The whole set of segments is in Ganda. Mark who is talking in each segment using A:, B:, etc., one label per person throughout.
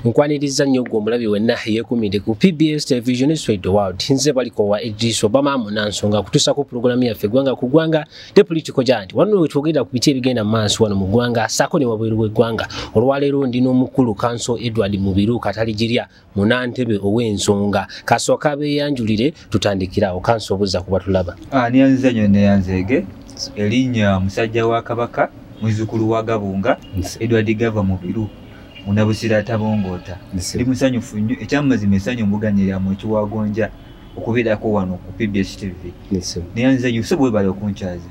A: nkwaniriza nnyo gwe omulabi wenna yekumidde ku pbs television swede world nze balikowa edris obama munansonga kutusa ku pulogulamu yaffe gwanga ku gwanga te politiko giant wano wetwogerera ku biki ebigenda mu maaso wano mu gwanga saako ne wabweru w'eggwanga olwaleero ndi n'omukulu kanso edward mubiru kataligirya munantebe ow'ensonga kasooka beeyanjulire tutandikirawo kanso obuza ku batulaba anianziza nyo
B: neyanzeege erinnya musajja wa kabaka muzukulu wa gabunga edward gava mubiru munabusira atabongoota ndi musanyufu nnyo ekyamazima esanyu mbuganiramu ekiwagonja okubeerako wano ku pbs tv naye nze yusuf webale okunkyaza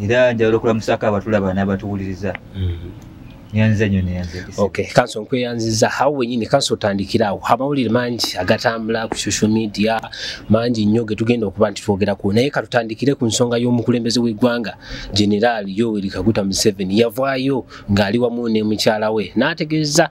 B: era njagala okulamusako abatulaba n'abatuwuliriza mm-hmm. nyanzanyo neyanzegesa okay kanso
A: nkweyanziza hao wenyini kanso otandikirawo amawulire mangi agatambula ku social media mangi nnyo getugenda okuba nti twogerako naye katutandikire ku nsonga y'omukulembeze w'eggwanga generaali yoweri kaguta museveni yavaayo ng'ali wamu ne mukyala we n'ategeeza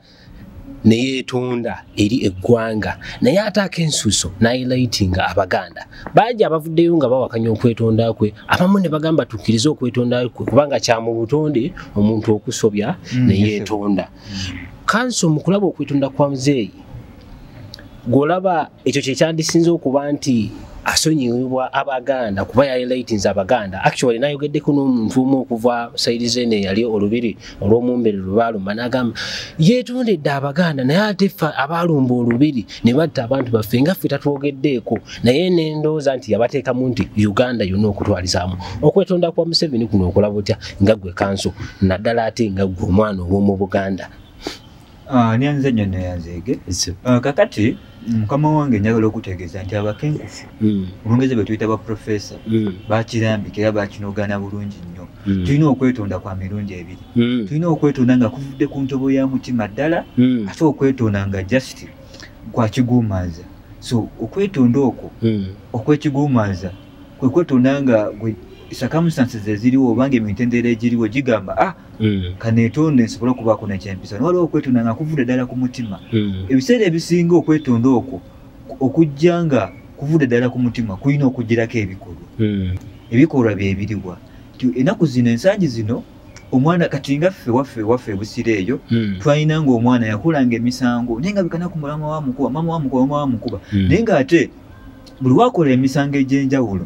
A: ne yeetonda eri eggwanga naye ate akensuuso n'ayilaitinga abaganda bangi abavuddeyo nga bawakanya okwetonda kwe abamu ne bagamba tukkirize okwetonda kwe kubanga kya mu butonde omuntu okusobya mm, ne yeetonda kanso mu kulaba okwetonda kwa muzeeyi gw'olaba ekyo kyekyandisinza okuba nti asonyiyibwa abaganda kuba yalilaitins abaganda actually nayogeddeko n'omuntu omu okuva saidi zene eyali olubiri olw'omumbere lwebaalumba nagamba yetondedde abaganda naye ate fe abaalumba olubiri ne batta abantu baffe nga ffe tatwogeddeeko naye nendooza nti yabateekamu nti uganda yonna okutwalizaamu okwetonda kwa museveni kuno okola butya nga gwe kanso naddala ate nga gwe omwana ow'omu buganda Ah,
B: nyanze nyo neyanzeege ah, kakati mm, mukama wange njagala okutegeeza nti abakenkufu mm. olungezi bwetuyita baprofesa mm. bakirambika era bakinogana bulungi nnyo tulina okwetonda kwa mirundi ebiri tulina okwetonda nga kuvudde ku ntobo ya mutima ddala ate okwetonda nga just kwakiguumanza so okwetonda okwo okwekiguumanza kwekwetonda nga circumstances eziriwo obanga emitendera egiriwo gigamba ah Mm. kanetonde nsobole okubaako nekyempisa nwaliwo okwetonda nga kuvudde ddala ku mutima mm. ebiseera ebisinga okwetonda okwo okujja nga kuvudde ddala ku mutima kulina okugirako ebikolwa mm. ebikolwa byebiriwa ti enaku zino ensangi zino omwana kati nga ffe waffe waffe ebusira eyo twalina nga omwana yakulanga emisango naye nga bikana ku mulama wa mukuba mama wa mukuba mama wa mukuba naye nga ate buli wakola emisango egyenjawulo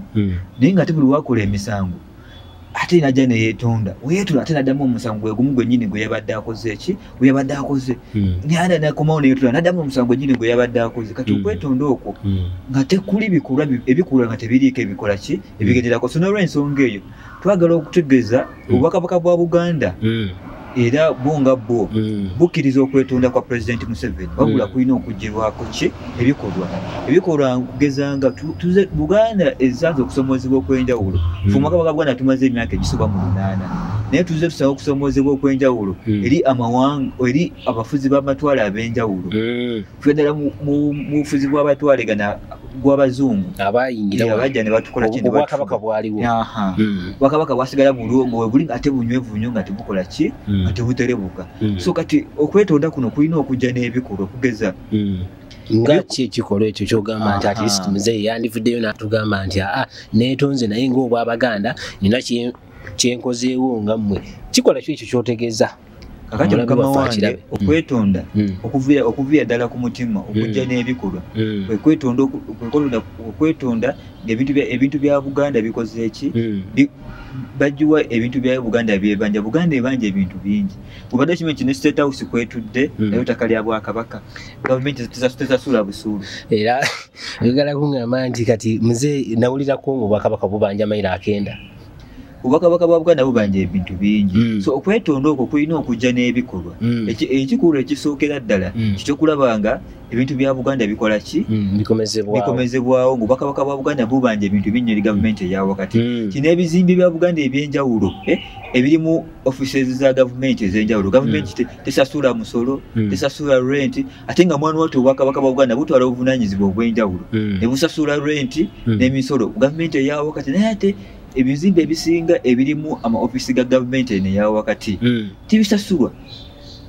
B: naye nga ate buli wakola emisango ate najja neyetonda weyetula ate nadamu omusango gwegumu gwenyini gweyabadde akoze eki gweyabadde akoze hmm. nada nakomawo neyetula nadamu omusango gwenyini gweyabadde akoze kati hmm. okwetonda okwo hmm. nga tekuli bikolwa ebikolwa nga tebiriiko ebikola ki ebigenderako so nolwensonga eyo twagala okutegeeza obubakabaka bwa buganda era bwo nga bwo mm. bukkiriza okwetonda kwa pulezidenti museveni mm. wabula kulina okugirwako ki ebikolwa ebikolwa kugeza nga buganda esanze okusomoozebwa okwenjawulo mm. fumaka bagabuganda tumaze emyaka egisoba mu lunaana naye tuze tusaba okusomoozebwa okwenjawulo eri amawanga eri abafuzi b'amatwale ab'enjawulo fedala mu bufuzi bw'abatwale gana gw'abazungu abayingirabajja
A: ne batukola ki
B: obwakabaka bwaliwo
A: hmm. obwakabaka
B: bwasigala bulwo nga webuli ate bunywevu nnyo nga tebukola ki hmm. nga tebuterebuka hmm. so kati okwetonda kuno kulina okujja n'ebikolwa okugeza nga
A: ki ekikolwa ekyo kyogamba nti atlist muzeeyi yandivuddeyo natugamba nti aa ah, netonze naye ngaobwabaganda nina kyenkozeewo nga mmwe kikola kyo ekyo kyotegeeza kakati Omulabe mukama
B: waffe wange akirabe. okwetonda Mm. okuviira okuviira ddala ku mutima okujja Mm. n'ebikolwa Mm. kwe kwetonda oku- kwe kwetonda- kwe kwetonda ng'ebintu bya- ebintu bya buganda bikoze eki Mm. Bi- bagiwa ebintu bya buganda byebanja buganda ebanja ebintu bingi obadde okimanyi kino state house kwetudde Mm. naye ettaka lya bwakabaka gavumenti tesa- tesasula busuulu era
A: oyagala kuŋŋamba nti kati muze nawulirako mu bwakabaka bubanja mayiro akenda obwakabaka
B: bwa buganda bubanja ebintu bingi mm. so okwetonda okwo kulina okujja n'ebikolwa mm. ekikulu ekisookera ddala mm. kikyokulaba nga ebintu bya buganda bikola ki mm, bikomezebwawo nga obwakabaka bwa buganda bubanja ebintu binyo eri gavumenti eya wakati mm. kino ebizimbe bya buganda ebyenjawulo eh, ebirimu offices za gavumenti ezenjawulo gavumenti mm. tesasula musolo tesasula renti ate nga mwana watu obwakabaka bwa buganda butwala obuvunanyizibwa obwenjawulo hmm. ne busasula renti hmm. n'emisolo gavumenti eya wakati naye ate ebizimbe ebisinga ebirimu amaofisi ga gavumenti eno eya wakati hmm. tibisasulwa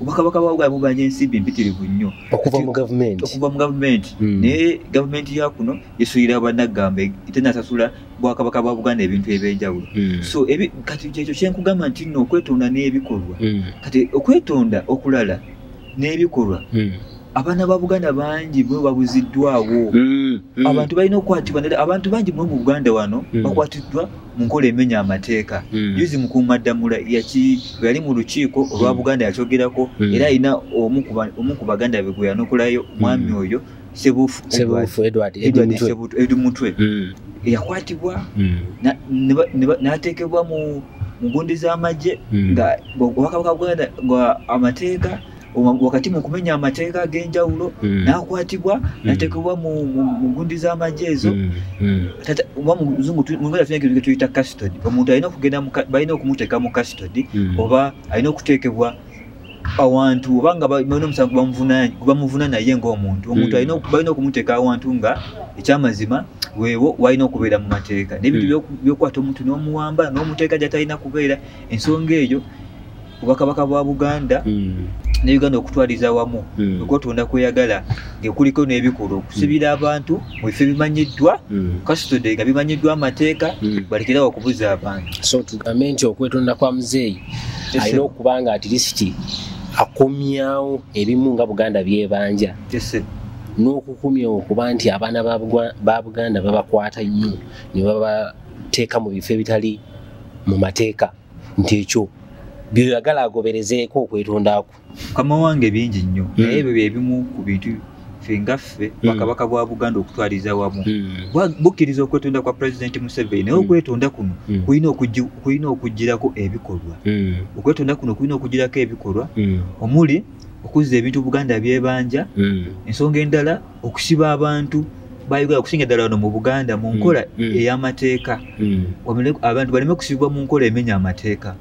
B: obwakabaka bwa buganda bubanja ensimbi empitirivu nnyo okuva mu gavumenti
A: okuva mu gavumenti naye gavumenti ya kuno esulira banaggamba tenasasula bwakabaka bwa buganda ebintu ebyenjawulo so kati kyekyo kyenkugamba nti nno okwetonda n'ebikolwa kati okwetonda okulala
B: n'ebikolwa hmm. abaana ba buganda bangi bwe babuziddwawo hmm, hmm. abantu balina okukwatibwa nera abantu bangi mwe mu buganda wano bakwatiddwa mu nkola emenya amateeka yuzi mukuumaddamula yali mu lukiiko olwa buganda yakyogerako era alina omu ku baganda be gwe yanokolayo mwami oyo sebufu edward mutwe yakwatibwa nateekebwa mu mugundi z'amagye Mm. nga obubaka bwa buganda bwa amateeka wa- wakati mu kumenya amateeka ag'enjawulo Mm. n'akwatibwa n'ateekebwa mu mu- mu gundi z'amagye ezo Mm, mm. Tata- oba mu luzungu tu- mu luganda tulina ekintu kye tuyita custody omuntu alina okugenda mu ka- balina okumuteeka mu custody Mm. oba alina okuteekebwa awantu oba nga balina omusango bamuvuna naye ngaomuntu omuntu hmm. balina okumuteeka awantu nga ekyamazima wewo walina okubeera mu mateeka nebintu hmm. byokukwata omuntu n'omuwamba n'omuteeka gyatalina kubeera ensonga eyo obwakabaka bwa buganda hmm. ne uganda okutwaliza wamu okwotonda kweyagala ngekuliko n'ebikolwa okusibira abantu mu bifo ebimanyiddwa kasitode nga bimanyiddwa amateeka balekerawo okubuza abantu so tugambe nti
A: okwetonda kwa muzeeyi alina okuba nga atilisiti akomyawo ebimu nga buganda byebanja n'okukumya okuba nti abaana ba buganda babakwata nnyo ne babateeka mu bifo ebitali mu mateeka nti ekyo byoyagala agoberezeeko okwetondaku mukama wange
B: bingi nnyo hmm. naye ebyo byebimu ku bintu ffe nga ffe hmm. bakabaka bwa buganda okutwaliza wamu hmm. bukkiriza okwetonda kwa pulezidenti museveni naye okwetonda kuno kulina okugirako ebikolwa okwetonda kuno kulina okugirako ebikolwa omuli okuzza ebintu buganda byebanja ensonga endala okusiba abantu bayogera okusinga ddala wano mu buganda mu nkola mm, mm. ey'amateeka mm. abantu baleme kusibibwa mu nkola emenya amateeka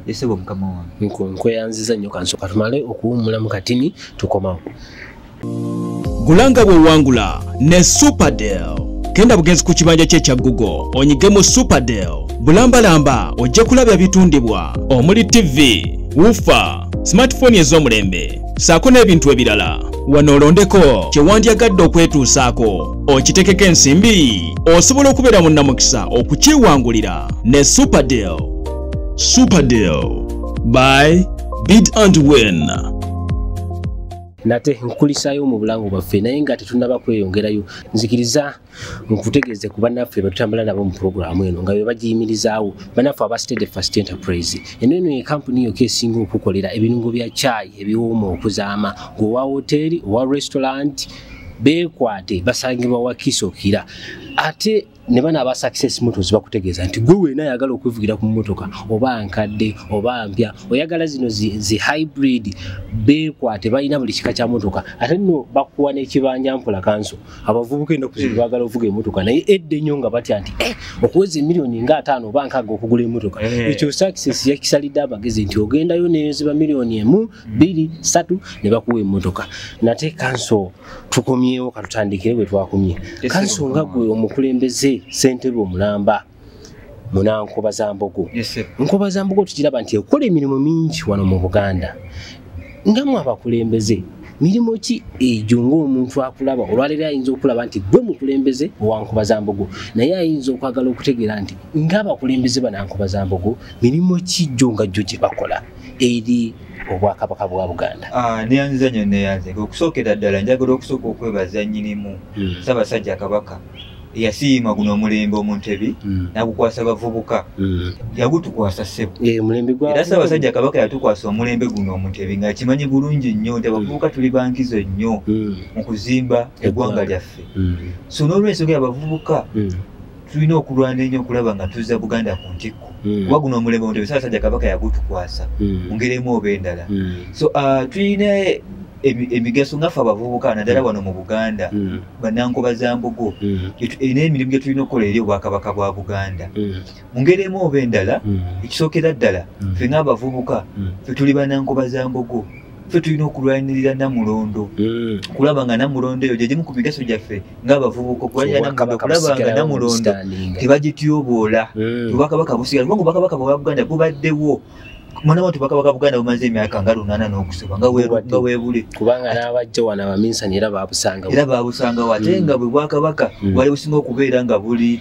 B: yesebo mukama wange nkweyanziza nnyo kansoka
A: tumale okuwummula mu katini tukomawo gulanga
C: bwewangula ne superdel genda bugenzi ku kibanja kye kya google onyige mu superdel bulambalamba ojja kulabya bitundibwa omuli ttivi wufa smartphone ez'omulembe saako n'ebintu ebirala wano olondeko kyewandyagadde okwetuusaako okitekeko ensimbi osobola okubeera mu namukisa okukyewangulira ne superdeal superdeal by bid and win nate
A: nkukulisaayo mu bulamu bwaffe naye nga tetunaba kweyongerayo nzikiriza nkutegeeze ku bannaffe betutambula nabo mu pulogulaamu eno nga bebagiyimirizaawo bannaffe aba stede first enterprise eno eno ye kampuni yoka esinga okukolera ebirungo bya chai ebiwooma okuzaama ngaowa woteeri owa restaurant bekwate basangibwa wakisokira ate ne bana aba success motors bakutegeeza nti gwe weena ayagala okwevugira ku mmotoka oba nkadde oba mpya oyagala zino zi, zi hybrid bekwate balina buli kika kya motoka ate nno bakuwa n'ekibanja mpola kanso abavubuka ennaku zino hmm. baagala okuvuga emotoka naye edda ennyo nga batya nti eh, okuweza emiliyoni nga ataano oba nkaaga okugula emotoka eh. ekyo sakisesi yakisalidde abagezi nti ogendayo neziba miliyoni emu hmm. bbiri satu ne bakuwa emotoka nate kanso tukomyewo katutandikire bwe twakomye kanso nga gwe omukulembeze sentebe omulamba munankuba za mbogo nkuba za mbogo tukiraba nti ekola emirimu mingi wano mu buganda nga mu abakulembeze mirimu ki egyo ngaomuntu akulaba olwaleero ayinza okulaba nti gwe mukulembeze owankuba za mbogo naye ayinza okwagala okutegeera nti ngaabakulembeze banankuba za mbogo mirimu ki gyo nga gyo gye bakola eri obwakabaka bwa buganda ah, neyanziza nyo
B: neyanzika okusookera ddala njagala okusooka okwebaza nyinimu hmm. sabasajja kabaka eyasiima guno omulembe omuntebi mm. nagukwasa bavubuka mm. yagutukwasa ssebo eh, era ssaabasajja kabaka yatukwasa omulembe guno omuntebi nga akimanyi bulungi nnyo nti abavubuka mm. tuli bankizo nnyo mu kuzimba eggwanga lyaffe so n'olwensonga yabavubuka tulina okulwana ennyo okulaba nga tuzza buganda ku ntikko hmm. kuba guno omulembe mutebi saasajja kabaka yagutukwasa hmm. mu ngeri emu oba endala hmm. so uh, tulina emigaso ngaffe abavubuka naddala mm. wano mu buganda mm. banankuba za mbugo mm. erina emirimu gye tulina okukola eri obwakabaka bwa buganda mu ngeri emu oba endala ekisookera ddala fe ngaabavubuka fe tuli banankuba za mbugo fe tulina okulwanirira namulondo kulaba nga namulondo eyo gyegimu ku migaso gyaffe ngaabavubuka okulabanga namulondo tebagityoboola obwakabaka busigala kubanga obwakabaka bwa buganda bubaddewo kumana watu bakabaka buganda bumaze emyaka nga lunana n'okusoba nga weebule kubanga n'abajja
A: wano abaminsani era babusanga
B: era
A: babusanga
B: wate mm. nga bwe
A: bwakabaka
B: mm. bwali businga okubeera
A: nga
B: buli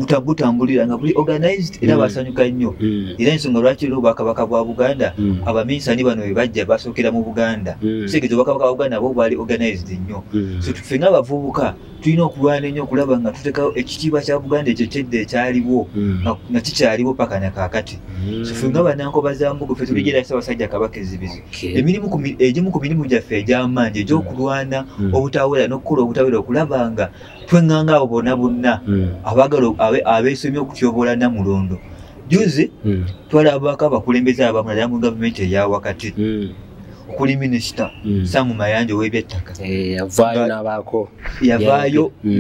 B: nga butambulira nga buli organized era mm. basanyuka nnyo era ensonga lwaki era obwakabaka bwa buganda abaminsani bano bwe bajja basookera mu buganda kitegeza obwakabaka bwa buganda nabo bwali organized nnyo so tufe nga abavubuka tulina okulwana ennyo okulaba nga tutekawo ekitiibwa kya buganda ekyo kyedda ekyaliwo hmm. nga kikyaliwo paka na kaakati hmm. fe nga banankoba za mbugo fe tuligira hmm. sabasajja kabaka ezibizi emirimu egimu ku mirimu gyaffe egy'amaanyi egy'okulwana obutawera n'okukola obutawera okulaba nga twenganga abo bona bonna abagala abeesomye okutyobola namulondo juzi twalabako abakulembeze abamu naddala mu gavumenti eya wakati okuli minisita mm. samu mayanja owebyettaka eh, yavaayo nabaako yavaayo mm.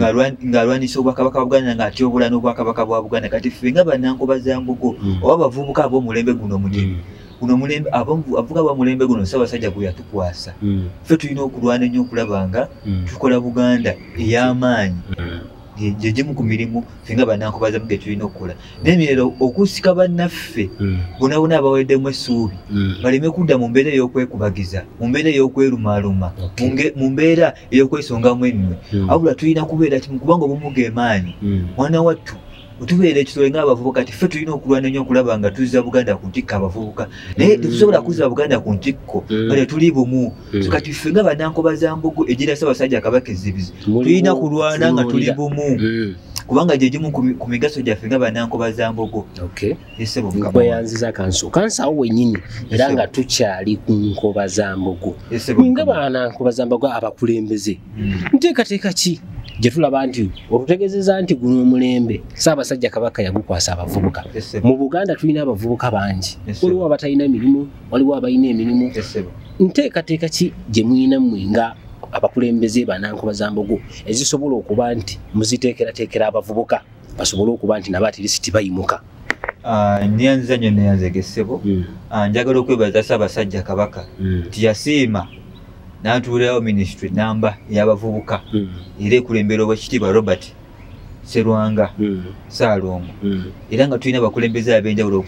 B: ng'alwanyisa obwakabaka bwa buganda nga atyobula n'obwakabaka bwa buganda kati ffe nga banankuba za mbugo mm. oba abavubuka ab'omulembe guno omugimu guno mulembe avuga ba mulembe guno ssabasajja gwe yatukwasa ffe tulina okulwana ennyo okulaba nga tukola buganda ey'amaanyi gye gimu ku mirimu ffe nga banankubazemu ge tulina okukola naye mirero okusika bannaffe hmm. bonabona abaweddemu essuubi hmm. baleme kudda mu mbeera ey'okwekubagiza mu mbeera ey'okwerumaaluma mu mbeera ey'okwesongamu ennwe hmm. abula tulina kubeera kimu kubanga obumu gemaanyi mwana wattu otubeera ekitole ngaabavubuka ti ffe tulina okulwana nnyo okulaba nga tuzza buganda ku ntikko abavubuka naye tetusobola kuzza buganda ku ntikko nga tetuli bumu Mm. kati ffe nga banankoba za mbogo egyera ssabasajja kabaka ezzibizi tulina kulwana nga tuli bumu mm. kubanga gyegimu ku migaso gyaffe nga banankoba za mbogo esebokweyanziza
A: kanso kansawo wenyini era nga tukyali ku nkoba za mbogo nga banankoba za mbogo abakulembeze mm. nteekateeka ki gyetulaba nti olutegezeza nti guno omulembe saabasajja kabaka yagukwasa abavubuka mu buganda tulina abavubuka bangi waliwo abatalina mirimu waliwo abalina emirimu nteekateeka ki gye mulina mmwe nga abakulembeze banankuba za mbogo ezisobola okuba nti muziteekerateekera abavubuka basobole okuba nti nabo atirisiti bayimuka Ah,
B: nyanza nyo neyanzegesebo hmm. ah, njagala okwebaza sabasajja kabaka hmm. nti yasiima natuulirawo ministry namba yabavubuka hmm. era ekulembera obwekitiibwa robert serwanga mm. saalongo mm. era nga tulina abakulembeze ab'enjawulo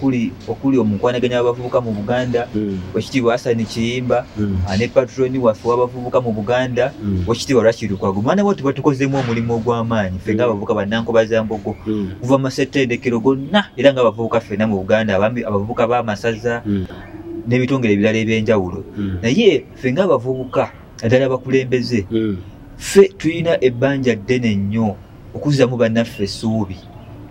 B: okuli omukwanaganya w'abavubuka mu buganda mm. wekitiibwa asani kiyimba ah, ne patroni waffe w'abavubuka mu buganda wekitiibwa lwakirukwago mwana bo tuba tukozeemu omulimu ogw'amaanyi ffe ngaabavubuka bannankuba za mbogo kuva mu masettendekero gonna era ngaabavubuka ffena mu buganda abavubuka b'amasaza n'ebitongere ebirala eby'enjawulo naye ffe ngaabavubuka naddala abakulembeze hmm. ffe tulina ebbanja ddene nnyo okuzzamu bannaffe essuubi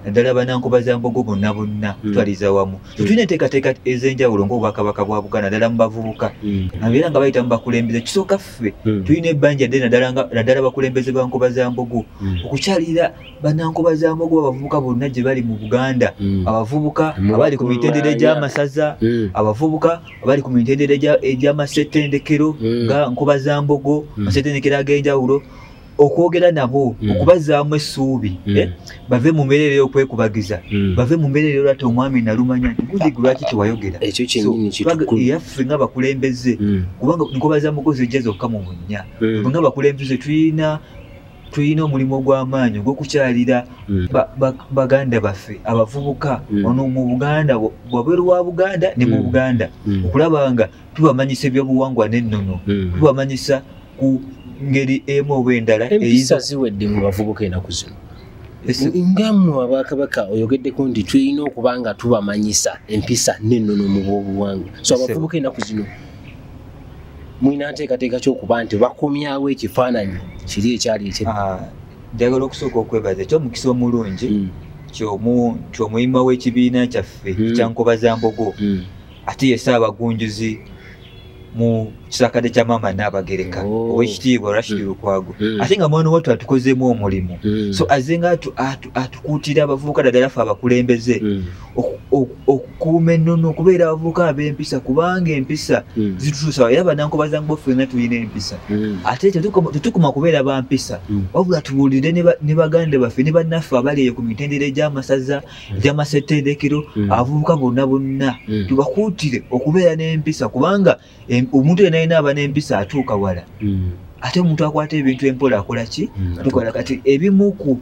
B: naddala banankuba za mbogo bonna bonna hmm. twaliza wamu hmm. tulina enteekateeka ez'enjawulo ngaobwakabaka bwa buganda naddala mu bavubuka nabeera nga bayita mu bakulembeze kisooka ffe tulina ebbanja ddene naddala abakulembeze ba nkuba za mbogo okukyalira banankuba za mbogo abavubuka bonna gye bali mu buganda abavubuka abali ku mitendera egy'amasaza abavubuka abali ku mitendera egya- egy'amasettendekero Mm. nga nkuba za mbogo Mm. amasettendekero ag'enjawulo okwogera nabo Mm. okubazaamu essuubi Mm. eh, bave mu mbeera eyo okwekubagiza Mm. bave mu mbeera eyo lwati omwami nalumanya nti gudigu lwaki twayogera Ekyo kyennyini So, twaga-
A: kitukulu. eyaffe nga bakulembeze
B: Mm. kubanga nkoba za mugozi ejja zokka mu bunnya Mm. nga bakulembeze tulina tulina omulimu ogw'amaanyi ogw'okukyalira mm. baganda baffe abavubuka mm. ono mu buganda wabweru wa buganda ne mu mm. buganda okulaba nga tubamanyisa ebyobuwangwa n'ennono tubamanyisa ku ngeri emu oba endala empisa ziwedde mu
A: bavubuka enaku zino nga mwe abakabaka oyogeddeko nti tulina okuba nga tubamanyisa empisa n'ennono mu bwobuwangwa so abavubuka enaku zino mulina nteekateeka kyokuba nti bakomyawo ekifaananyi kiri ekyali ekye ah, njagala okusooka
B: okwebaza ekyo omukisa omulungi mm. kyomuyima w'ekibiina kyaffe mm. kyankoba za mbogo mm. ate yese abagunjuzi mu kisakade kya maama naabagereka oh. owekitiibwa rashid lukwago ate nga mwana watu atukozeemu omulimu so aze nga atukuutira abavubuka dagala ffe abakulembeze okukuuma ennono okubeera abavubuka ab'empisa kubanga empisa hmm. zitutuusa era banankubazangu bafena tulina empisa hmm. ate tetukuma kubeera ba mpisa hmm. wabula tubuulire ne baganda baffe ne bannaffe abali eyo ku mitendera egy'amasaza egy'amasetteerekero abavubuka bonna bonna tubakuutire okubeera n'empisa kubanga Em- omuntu yena yena aba n'empisa atuuka wala Mm. ate omuntu akwata ebintu empola akola ki Mm, tukola kati ebimu ku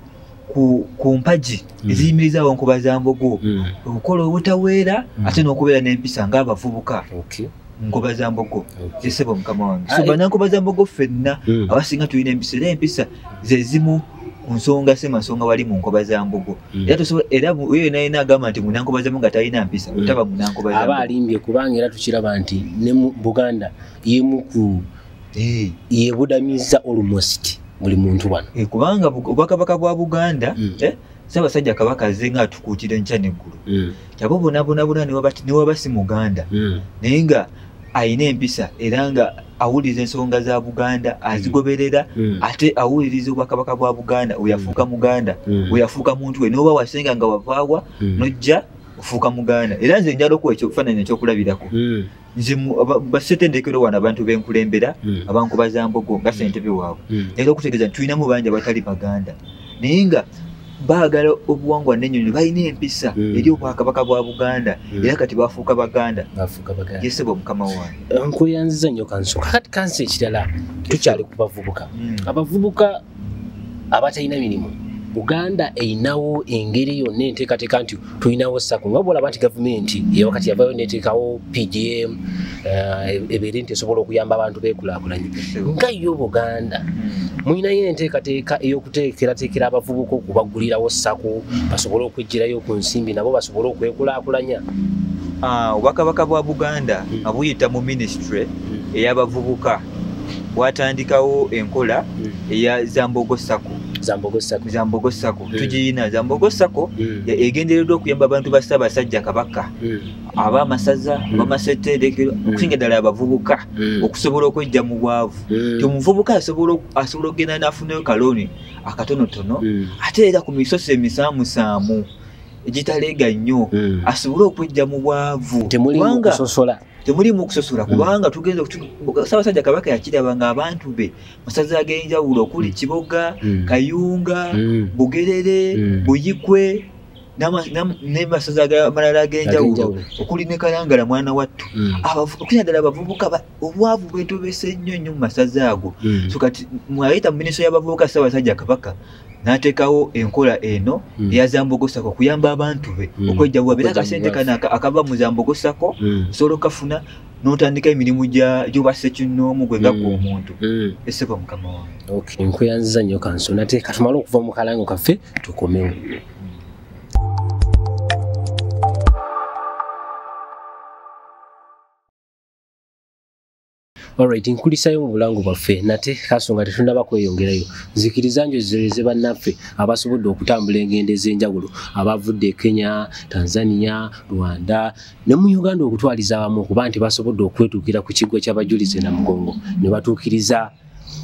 B: ku, ku mpagi Mm. eziyimirizawo nkuba za mbogo Mm. okukola obutaweera Mm. ate n'okubeera n'empisa ng'abavubuka Okay. nkuba za mbogo Okay. zesebo mukama wange Ah, so eh. banankuba za mbogo ffenna Mm. abasinga tulina empisa era empisa zezimu ku nsonga si masonga wali mu nkoba za mbugo mm. era tusobola era oyo yenayina agamba nti munankoba zamu nga talina mpisa mm. otaba munankoba zamu aba alimbye kubanga era tukiraba
A: nti ne mu buganda yemu ku eh. yebudamiza almost buli muntu wano eh, kubanga obwakabaka
B: bwa buganda mm. eh, sabasajja kabaka aze nga atukuutira enkya neggulu abo bonabonabona newaba si muganda hmm. naye nga alina empisa era nga awuliriza ensonga za buganda hmm. azigoberera hmm. ate awuliriza obwakabaka bwa buganda weyafuuka muganda weyafuuka muntu we noba wasenga nga wavaawa nojja ofuuka muganda era nze njala okuwa ekifaananyi ekyokulabirako nze basetendekero wano abantu benkulembera hmm. abankuba za mbogo nga hmm. sentebe waabwe hmm. era okutegeeza nti tulinamu bangi abatali baganda naye nga baagala obuwangwa nenyonyi balina empisa eri obwakabaka bwa buganda era kati bafuuka baganda yesebo mukama wange eh, nkuyanziza nyo kansuka
A: kati kansi ekirala tukyali kubavubuka abavubuka abatalina mirimu uganda erinawo engeri yonna enteekateeka nti tulinawo sako nga bolaba nti gavumenti eyawakati yavayo neteekawo pgm eh, ebeere nti esobola okuyamba abantu bekulakulanye nga yo buganda mulinayo enteekateeka ey'okuteekerateekera abavubuka okubagulirawo sako basobole okwejjirayo ku nsimbi nabo basobole okwekulakulanya ah,
B: obwakabaka bwa buganda hmm. abuyita mu minisitule hmm. eyabavubuka watandikawo enkola mm. eya zambogo sako zambogo sako zambogo sako mm. tujiyina zambogo sako mm. egendereddwa okuyamba abantu ba ssaabasajja kabaka mm. abaamasaza mm. abamaseterekero mm. okusinga ddala abavubuka mm. okusobola okwejja mu bwavu mm. ti omuvubuka asobola okugenda n'afunayo kalooni akatonotono mm. ate era ku misoso emisaamusaamu egitaleega nnyo mm. asobole okwejja mu bwavu temulimu kusosola temulimu kusosola hmm. kubanga tugenda sabasajja kabaka yakiraba nga abantu be masaza agenjawulo okuli hmm. kiboga hmm. kayunga bugerere buyikwe nemasaza amalala agenjawulo okuli ne kalangala mwana wattu okunaddala abavubuka obwavu bwetobese nnyo nnyo mu masaza ago so kati mwayita mu minisitule y'abavubuka sabasajja kabaka n'ateekawo enkola eno hmm. eya zambogosako kuyamba abantu be hmm. okwejjawuba bera akasente kana akava mu zambogosako hmm. osobola okukafuna n'otandika emirimu gyobasa ekinnoomu gwe nga gwe omuntu esebo mukama wange nkweyanziza nnyo kanso
A: nate katumale okuva mu kalango kaffe tukomewo Alright, nkulisayo mu bulango bwaffe nate kasonga tetunaba kweyongerayo nzikiriza njo zireze bannaffe abasobodde okutambula engendo ez'enjawulo abavudde Kenya, Tanzania, Rwanda ne mu Uganda okutwaliza abamu okuba nti basobodde okwetuukira ku kiggwa ky'abajulizi na mugongo ne batuukiriza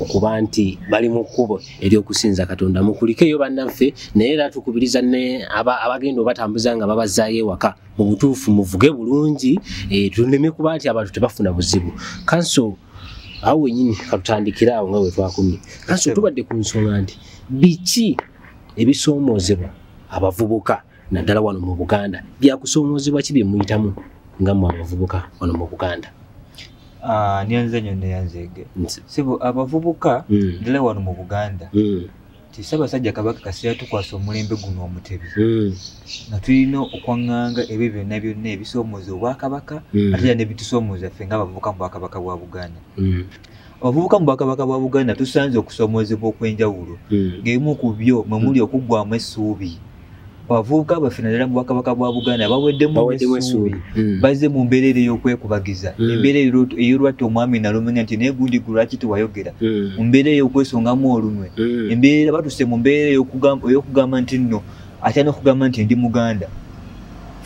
A: okuba nti bali mu kkubo ery'okusinza katonda mukulikeyo bannaffe naye era tukubiriza ne abagenda obatambuza nga babazaayo ewaka mu butuufu muvuge bulungi eh, tuleme kuba nti abantu tebafuna buzibu kanso awo wenyini katutandikira awo nga wetwakumye kanso tubadde ku nsonga nti biki ebisoomoozebwa abavubuka naddala wano mu buganda byakusoomoozebwa ki byemuyitamu nga mu abavubuka wano mu buganda ah,
B: nyanze nyo neyanzege sibu abavubuka mm. dala wano mu buganda mm. nti ssaabasajja kabaka kasita yatukwasa omulembe guno omutebi hmm. nga tulina okwaŋŋanga ebyo byonna byonna ebisoomooza obwakabaka hmm. ate era nebitusoomooza ffe nga abavubuka mu bwakabaka bwa buganda hmm. abavubuka mu bwakabaka bwa buganda tusanze okusoomoozebwa okw'enjawulo ng'ebimu ku byo mwe muli okuggwamu essuubi abavubuka baffe naddala mu bwakabaka bwa buganda baweddemu Baweddemu essuubi essuubi. Mm. bazze mu mbeera eri ey'okwekubagiza Mm. embeera ey'olu- ey'olwatta omwami nalumanya nti naye gundi gwe lwaki tewayogera Mm. mu mbeera ey'okwesongamu olunwe Mm. embeera batuse mu mbeera ey'okugamba ey'okugamba nti nno atya n'okugamba nti ndi muganda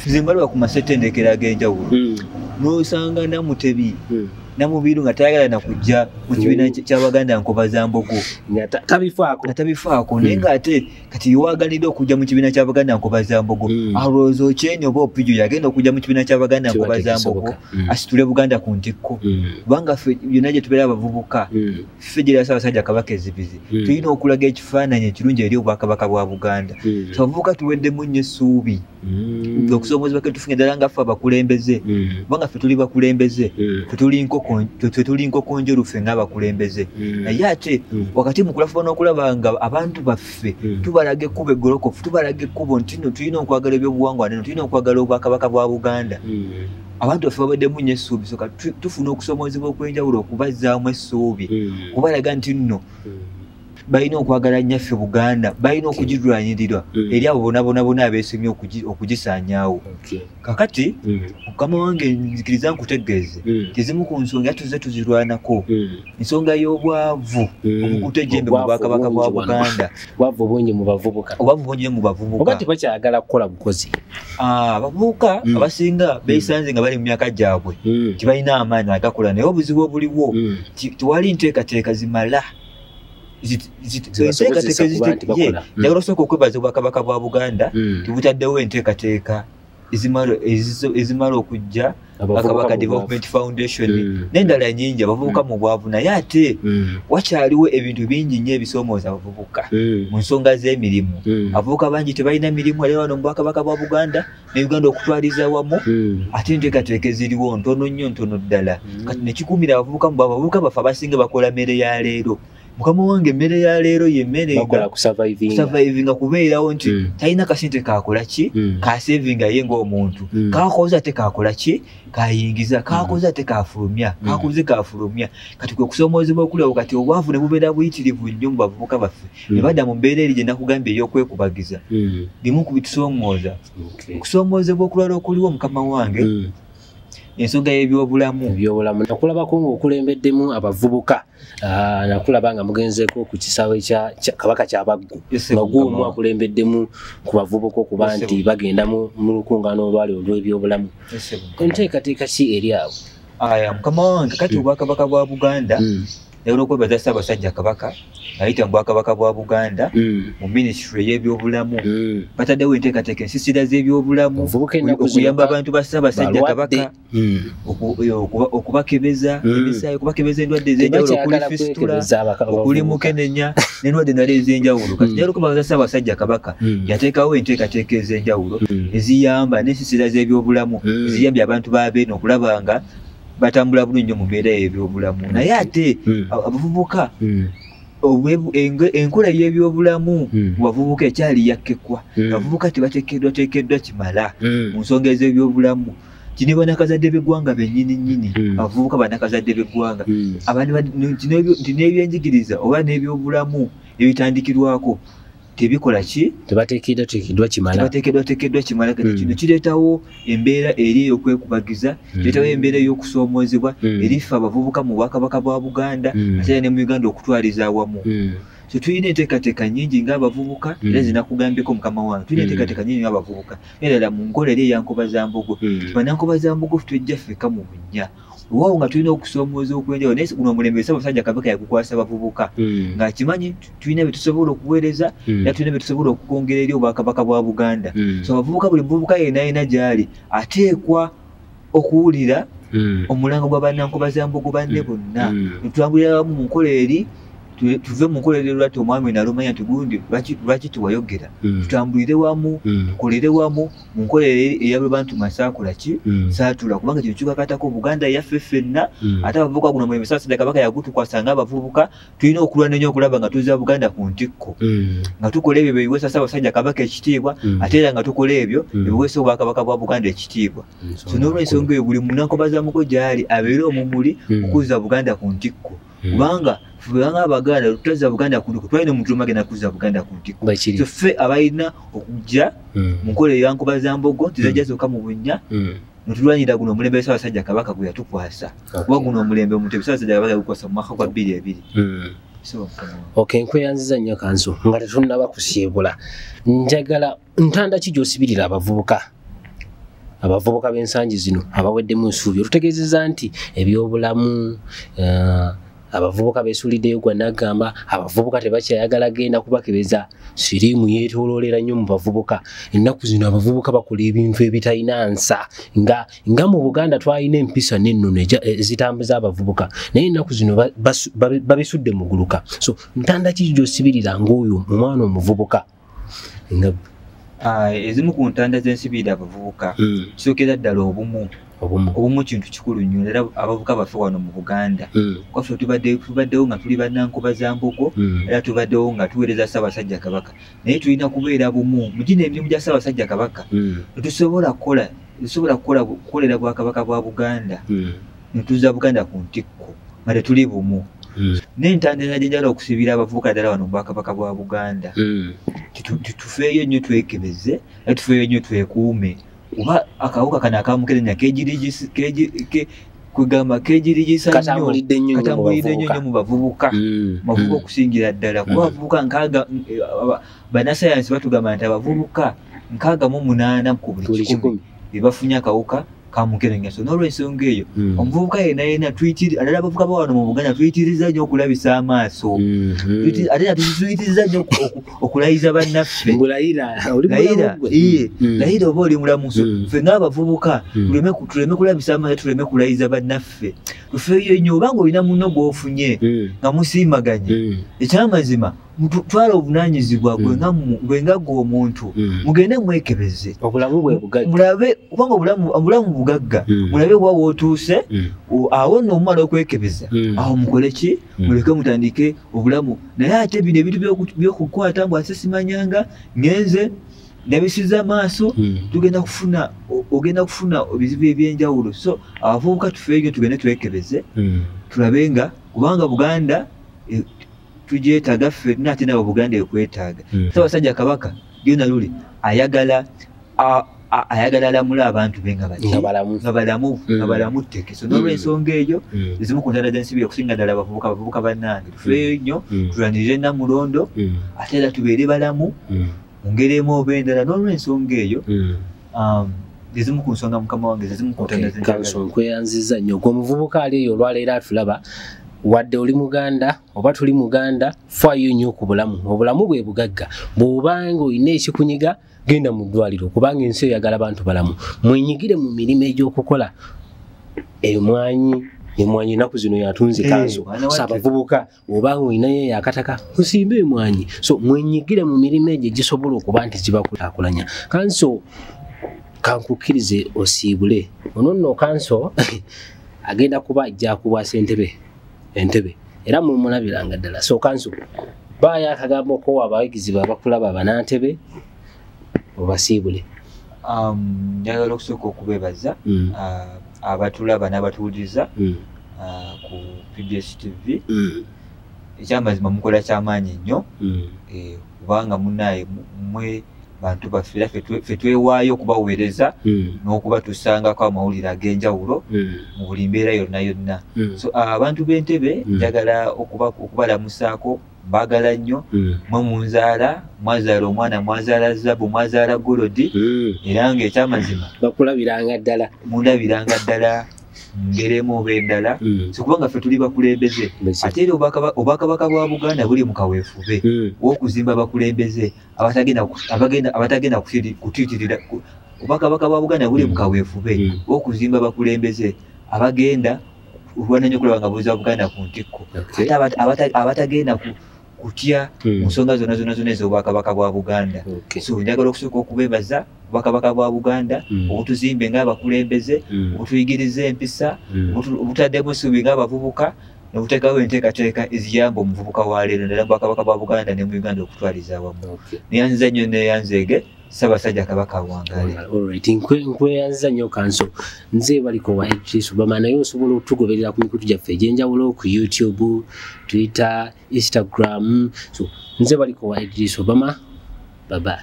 B: nze mbalaba ku masetendekero ag'enjawulo Mm. n'osanga namutebi Mm. namubiru nga tayagala na kujja mu kibiina Mm. ky- ky'abaganda nkoba za mbogo Nga ta- tabifaako
A: nga tabifaako naye Mm. ng'ate
B: kati yewaganidde okujja mu kibiina kya baganda nkobazambogo mm. alowooza okyeni oba opijo yagenda okujja mu kibiina kya baganda nkobazambogo mm. asitule buganda ku ntikko mm. kubanga ffe byonna gye tubeera abavubuka mm. ffe gyera saabasajja kabaka ezibizi mm. tulina okulaga ekifaananyi ekirungi eri obwakabaka bwa buganda mm. so abavubuka tuweddemu nnyo essuubi Mm. okusoomoozebwa ke tufunye ddala nga ffe abakulembeze Mm. kubanga ffe tuli bakulembeze Mm. ffe tuli nkoko ffe- ffe tuli nkoko njeru ffe ng'abakulembeze Mm. naye ate Mm. wakati mu kulafuba n'okulaba nga abantu baffe Mm. tubalaga ekkubo eggolokofu tubalaga ekkubo nti no tulina okwagala ebyobuwangwa neno tulina okwagala obwakabaka bwa buganda Mm. abantu baffe babaddemu nnyo essuubi soka tu- tufuna okusoomoozebwa okw'enjawulo okubazzaamu essuubi Mm. kubalaga nti nno Mm. balina okwagala nnyaffe buganda balina okugirwanirira mm. eri abo bonabonabona abeesemye okugisaanyaawo kakati mm. mukama wange nzikiriza nkutegeeze mm. tezimu ku nsonga era tuzze tuzirwanako ensonga y'obwavu obukuta ejjembe mu bwakabaka bwa buganda obwavu bungi mu
A: bavubuka obwavu bungi mu bavubuka
B: tebakyagala kukola
A: bukozi ah, abavubuka
B: abasinga beesanze nga bali mu myaka gyabwe tebalina amaanyi agakola naye obuzibu obuliwo tewali nteekateeka zimala enteekateeka ezitekye njagala osooka okwebaza obwakabaka bwa buganda hmm. tebutaddewo enteekateeka ezimala okujja bakabaka development foundation hmm. nendala nyingi abavubuka hmm. mu bwavu naye ate wakyaliwo ebintu bingi nyo ebisomooza abavubuka mu nsonga z'emirimu abavubuka bangi tebalina mirimu era wano mu bwakabaka bwa buganda ne uganda okutwaliza awamu hmm. ate enteekateeka eziriwo ntono nnyo ntono ddala hmm. kati nekikuumira abavubuka mu abavubuka baffe abasinga bakola mmere ya leero mukama wange emmere ya leero yemerekusavaivinga kubeerawo nti hmm. talina kasente kakola ki kasevinga ye ngaomuntu kakoze ate kakola ki kayingiza kakoze ate kafulumya kakoze kafulumya kati kwe kusoomoozebwa okulabo kati obwavu ne bubeera buyitirivu nnyo mu bavubuka baffe hmm. ne badda mu mbeera eri gye nakugambye ey'okwekubagiza hmm. bimu ku bitusoomooza okusoomoozebwa okulwala okuliwo mukama wange hmm. ensonga y'ebyobulamu byobulamu nakulabako ngaokulembeddemu abavubuka ah, nakulaba nga mugenzeeko ku kisaawe kya kabaka kyabaggu maguumu akulembeddemu ku bavubuka okuba nti bagenda mu lukungaana olwali olw'ebyobulamu enteekateeka ki eri abo aya mukama wange kati obwakabaka bwa buganda naye olwokwebaza ssaabasajja kabaka ayita mu bwakabaka bwa buganda mm. mu minisitule y'ebyobulamu mm. bataddewo enteekateeka ensisira z'ebyobulamu okuyamba abantu ba ssaabasajja kabaka mm. e, okubakebeza emisaayi okubakebeza endwadde ez'enjawulo okuli fisitula okuli mukenenya n'endwadde nala ez'enjawulo kati naye olwokwebaza ssaabasajja kabaka yateekawo enteekateeka ez'enjawulo eziyamba n'ensisira z'ebyobulamu eziyambye abantu ba beene okulaba nga batambula bulungi nyo mu mbeera y'ebyobulamu naye ate Mm. a- abavubuka Mm. obwe- eng- enkola y'ebyobulamu Mm. mu bavubuka ekyali yakkekwa Mm. abavubuka tebatekeddwa tekeddwa kimala Mm. mu nsonga ez'ebyobulamu kino banakazadde b'eggwanga bennyini nnyini Mm. abavubuka banakazadde b'eggwanga Mm. abantu ba- nti n'ebyo- nti n'ebyenjigiriza oba n'ebyobulamu ebitandikirwako tebikola ki tebatekedwa tekedwa kimala tebatekedwa tekedwa kimala kati mm. kino kiretawo embeera eri eyokwekubagiza mm. kiretawo embeera eyokusoomoozebwa mm. erifa abavubuka mu bwakabaka bwa buganda mm. ate ne mu uganda okutwaliza awamu mm. so tulina enteekateeka nyingi ngaabavubuka mm. era zinakugambyeko mukama wange tulina mm. enteekateeka nyingi ngaabavubuka era ddala mu nkola eri eyankoba za mbogo mm. banankoba za mbogo tujja ffeka mu bunnya waawo nga tulina okusomooza okwenjawulo naye guno omulembe esaba musajja kabaka yagukwasa bavubuka mm. nga kimanyi tulina byetusobola okuweereza mm. era tulina byetusobola okukwongera eri obwakabaka bwa buganda mm. so abavubuka buli muvubuka yena yena gyali ateekwa okuwulira omulango gwa bannankuba za mbogo banne bonna netwambulira wamu mu nkola eri tuve mu nkola eri lwati omwami nalumanya nti gundi lwaki tewayogera tutambulire wamu tukolere wamu munkola eyabebantu nga sakola ki mm. satula kubanga kino kikakatako buganda yaffe ffenna mm. ate abavubuka guno mwe misasida kabaka yagutukwasa nga abavubuka tulina okulwana nnyo okulaba nga tuza buganda ku ntikko mm. nga tukola ebyo byebiweesa ssabasajja kabaka ekitiibwa ate era nga tukola ebyo ebiweesa obwakabaka bwa buganda ekitiibwa so nolwensonga eyo buli munakobazamuko gyali abeere omumuli okuza buganda ku ntikko Hmm. kubanga banga abaganda tutaza buganda kuliko twalina omuntu omagenda kuza buganda kuntiko so ffe abalina okujja hmm. mu nkola eyankuba za mbogo tizajja hmm. zoka mu bunnya netulwanyira guno omulembe esabasajja kabaka gwe yatukwasa kuba guno omulembe omuntu ebisabasajja kabaka yagukwasa mu mwaka gwa bbiri ebiri ok
A: nkweyanziza nnyo kanzu nga tetunnaba kusiibula njagala ntanda ki gyosibirira abavubuka abavubuka b'ensangi zino abaweddemu ensuubi olutegeezeza nti ebyobulamu eh, abavubuka besuliddeyo gwa nagamba abavubuka tebakyayagala genda kubakebeza siriimu yetololera nnyo mu bavubuka ennaku zino abavubuka bakola ebintu ebitalina nsa nga nga mu buganda twalina empisa n'ennono ezitambuza abavubuka naye ennaku zino babisudde muguluka so ntanda ki gyosibirira ngaoyo omwana omuvubuka ah,
B: ezimu ku ntanda z'ensibiira abavubuka hmm. kisookera ddala obumu obumu kintu kikulu nnyo era abavuka baffe wano mu buganda hmm. kwaffe tubaddewo nga tuli bannankuba za mbogo hmm. era tubaddewo nga tuweereza ssaabasajja kabaka naye tulina kubeera bumu mu gino emirimu gya ssaabasajja kabaka tetusobola kukola tetusobola kukolera bwakabaka bwa buganda netuza buganda ku ntikko nga tetuli bumu hmm. nentandera gyenjala okusibira abavubuka ddala wano mubwakabaka bwa buganda hmm. titufeeyo nnyo twekebeze a tufeeyo nnyo twekuume kuba akawuka kano akamukerenya kwegamba kegirigisakatambulidde nnyo
A: nnyo mu
B: bavubuka hmm. bavubuka okusingira ddala kuba abavubuka nkaaga eh, banasayansi batugamba nti abavubuka nkaaga mu munaana ku buli kikumi bebafunye akawuka kamukerengeso n'olwensonga eyo Mm. omuvubuka yena yena tuyitiri ate abavubuka bawano mu buganda tuyitiriza nnyo okulabisa amaaso Mhm. Tuyiti- ate nga tuyitiriza nnyo oku- oku- okulayiza bannaffe Mbu layira oli mulamu layira gwe. iye Mm. layira oba oli mulamu so Mm. ffe ng'abavubuka Mm. tuleme ku- tuleme kulabisa amaaso tuleme kulayiza bannaffe tufeeyo nnyo obanga olina munno gw'ofunye Mm. nga musiimaganye Mm. ekyamazima twala obunanyizibwa gwe mm. nga gwe omuntu mm. mugende mwekebeze mulabe kubanga obulamu bugagga mm. mulabe wa wotuuse awo no omumala okwekebeza awo mukole ki muleke mutandike obulamu naye ate bino ebintu byokukwata mbu ase simanyanga ngenze nabisiza amaaso tugenda kufuna ogenda kufuna ebizibu ebyenjawulo so abavubuka tufeeyo tugende twekebeze tulabe nga kubanga buganda e, tugyetaaga ffenna ate nawe buganda ekwetaaga mm. sabasajja kabaka yona luli ayagala ayagala alamule abantu be nga baki nga balamu nga balamu mm. tteke so nolwensonga mm. eyo mm. ezimu ku ntanda z'ensibi okusinga ddala abavubuka abavubuka bannange tufeeyo nnyo tulwanirire namulondo ate era tubeere balamu mu ngeri emu oba endala n'olw'ensonga eyo mm. um, ezimu ku nsonga mukama wange zezimu kunkweyanziza nnyo gwe
A: omuvubuka ali eyo olwaleero atulaba wadde oli muganda oba tuli muganda faayo nnyo ku bulamu obulamu bwe bugagga bw'obanga olina ekikunyiga genda mu ddwaliro kubanga ensi oyagala bantu balamu mwenyigire mu mirimu egy'okukola emwanyi emwanyi enaku zino yatunze kanso eh, sabavubuka oba ng'olinayo eyo akataka osimba emwanyi so mwenyigire mu mirimu egyo gisobola okuba nti gibakulakulanya kanso kankukkirize osiibule ono nno kanso agenda kuba ajja kubwasa entebe entebe era mumulabiranga ddala so kanso baayo akagambo kowa abayigizi babakulaba banantebe obasiibule um,
B: njagala okusooka okubebaza mm. uh, abatulaba n'abatuwuliriza mm. uh, ku pbs tv mm. ekyamazima mukola kyamaanyi nnyo eh, kubanga munaye mwe bantu baffe era fe twewaayo okubaweereza hmm. n'okubatusangako amawulire ag'enjawulo hmm. mu buli mbeera yonna yonna hmm. so abantu b'entebe njagala okubalamusaako mbagala nnyo mm. mwe munzaala mwazaala omwana mwazaala zabu mwazaala golodi mm. era nga ekyamazima bakulabiranga ddala
A: mundabiranga ddala
B: ngeremu oba endala mm. sikuba nga ffe tuli bakulembeze ate era obwakabaka bwa buganda buli mu kaweefube wokuzimba bakulembeze abatagenda kutitirira obwakabaka bwa buganda buli mu kaweefube wokuzimba bakulembeze abagenda olwananya okulaba nga buuza buganda ku ntikko ate abatagenda kutya hmm. mu nsonga zona zona zona ez'obwakabaka bwa buganda so njagala okusooka okubebaza obwakabaka bwa buganda hmm. obutuzimbe ngaabakulembeze hmm. obutuyigiriza empisa obutaddemu suubi ngaabavubuka nokuteekawo enteekateeka eziyamba omuvubuka wa leero nera bwakabaka bwa buganda ne mu uganda okutwaliza awamu neyanziza nnyo neyanzeege okay. Ssabasajja Kabaka awangaale. Alright,
A: nkweyanziza nnyo kanso. Nze baliko wa Idris Obama naye osobola okutugoberera ku mikutu gyaffe egy'enjawulo ku YouTube, Twitter, Instagram. So, nze baliko wa Idris Obama. Bye bye.